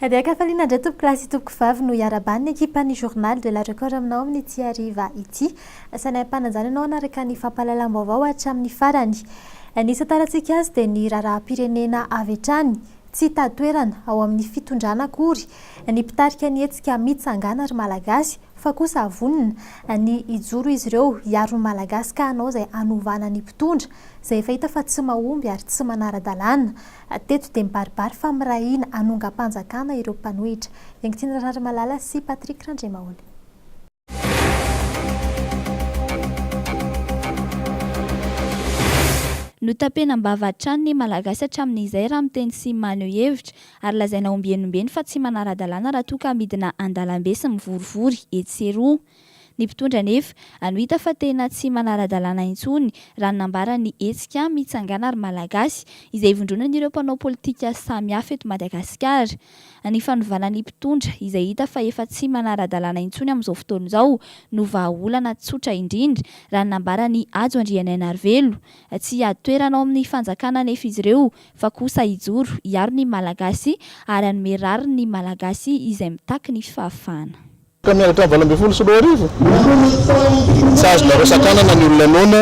Dia kafaliana indray tompoko lahy sy tompoko vavy no iaraban'ny ekipan'ny journal de la record aminao amin'ity hariva ity. Sainay ampananjana ianao hanaraka ny fampahalalam-baovao hatramin'ny farany. Ny isan tarantsika azy dia ny raharaham-pirenena avy hatrany. Tsy hitady toerana ao amin'ny fitondrana akory ny mpitarika ny hetsika Mitsangàna ry Malagasy fa kosa vonona ny hijoro izy ireo hiaro ny Malagasy ka hanao izay hanovana ny mpitondra izay efa hita fa tsy mahomby ary tsy manara-dalàna. Teto dia mibaribary fa mirahina hanongam-panjakana ireo mpanohitra. Iankitina Rarimalala sy Patrick Randriamaholy. Notapenam-bava hatrany ny Malagasy hatramin'izay raha miteny sy maneho hevitra, ary lazaina ombieny ombieny fa tsy manara-dalàna raha toa ka midina an-dalambe sy mivorivory etsy sy eroa. Ny mpitondra anefa ano hita fa tena tsy manara-dalàna intsony raha ny nambarany ny hetsika Mitsangàna ry Malagasy izay ivondronan'ireo mpanao politika samihafa eto Madagasikara. Ny fanovàna ny mpitondra izay hita fa efa tsy manara-dalàna intsony amin'izao fotoana izao no vahaolana tsotra indrindra raha ny nambaran'i Hajo Andrianainarivelo. Tsy hiady toerana ao amin'ny fanjakàna anefa izy ireo fa kosa hijoro hiaro ny Malagasy ary hanome rariny ny Malagasy izay mitaky ny fahafahana. Tamin'ny halatrany valo ambin'ny folo sy roa arivo, tsy azonareo sakanana ny olona noana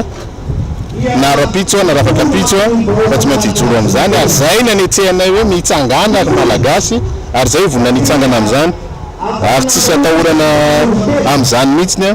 na rahampitso na rafakampitso fa tsy maintsy hijoro amin'izany ary izay ny anetsehanay hoe mitsangana ry Malagasy ary izay ivonona ny hitsangana amin'izany ary tsisy atahorana amin'izany mihitsy ny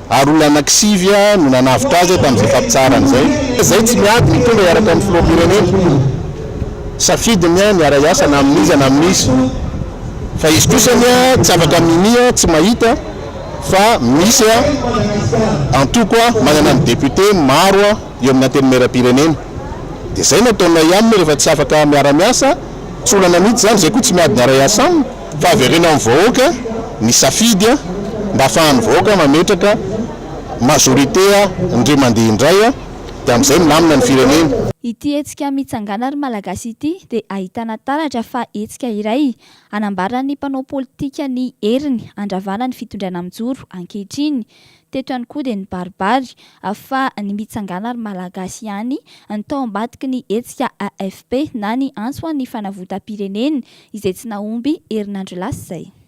ary olona anankisivy no nanavotra azy tamin'izay fampitsaharana izay. Izay tsy miady ny tonga hiaraka amin'ny filoham-pirenena, safidiny ny hiara-hiasa na amin'iza na amin'iza, fa izy kosa anie tsy afaka minia tsy mahita fa misy antoko manana ny député maro eo amin'ny Antenimierampirenena. Dia izay no ataonay aminy rehefa tsy afaka miara-miasa, tsy olana mihitsy izany, izay koa tsy miady ny hiara-hiasa aminy. Fa avereno amin'ny vahoaka ny safidy mba afahan'ny vahoaka mametraka majorité ndry mandeha indray dia amin'izay milamina ny firenena. Ity hetsika Mitsangàna ry Malagasy ity dia ahitana taratra fa hetsika iray hanambaran'ny mpanao politika ny heriny handravana ny fitondrana mijoro ankehitriny Teto ihany koa dia nibaribary fa ny mitsangana ry Malagasy ihany no tao ambadiky ny hetsika AFP na ny antso ho an'ny fanavotam-pirenena izay tsy nahomby herinandro lasa izay.